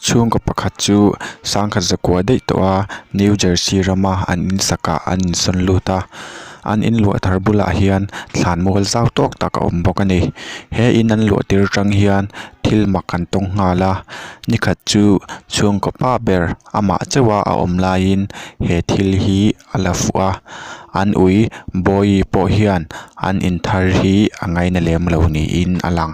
Chhungkaw pakhat chu sangkhat zakua daih tawh a New Jersey rama an in sakah an in sawn lut a an in luah thar bulah hian thlan mual zau tawk tak a awm bawk a ni he in an luah tir tang hian thil mak an tawng nghal a ni khat chu chhungkaw pa ber-- Amah chauha a awm laiin he thil hi a la fuh a, an ui Bawihi pawh hian an inthar hi a ngaina lem lo niin a lang.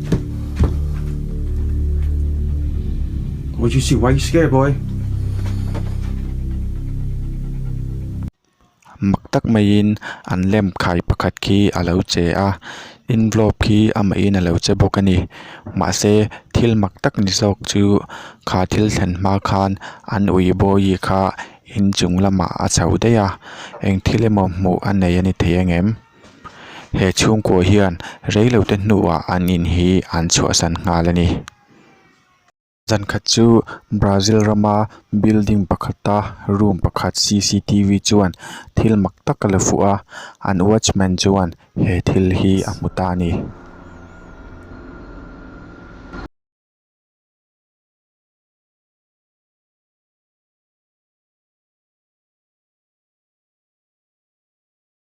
Mojisi wai ske bawi. Mak tak maiin an lem khai pakhat khi a lo che a, envelope khi amahin a lo che bawk a ni. Mahse thil mak tak ni zawk chu kha thil thlen hma khan an ui bawii kha inchung lamah a chho daih a, eng thil emaw hmuh a nei a ni thei ang em? he chhungkaw hian reilote hnua an in hi an chhuahsan nghal a ni. Zan khat chu Brazil rama building pakhata room pakhat cctv chuan thil mak tak a la fuh a, an watchman chuan he thil hi a hmu ta a ni.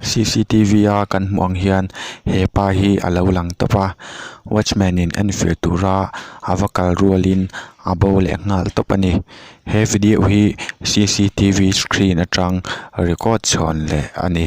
Cctv a kan hmuh ang hian he pa hi a lo lang tawp a watchman in enfiah tura a va kal rual in a bo leh nghal tawp a ni he video hi cctv screen atang record chhawn leh a ni.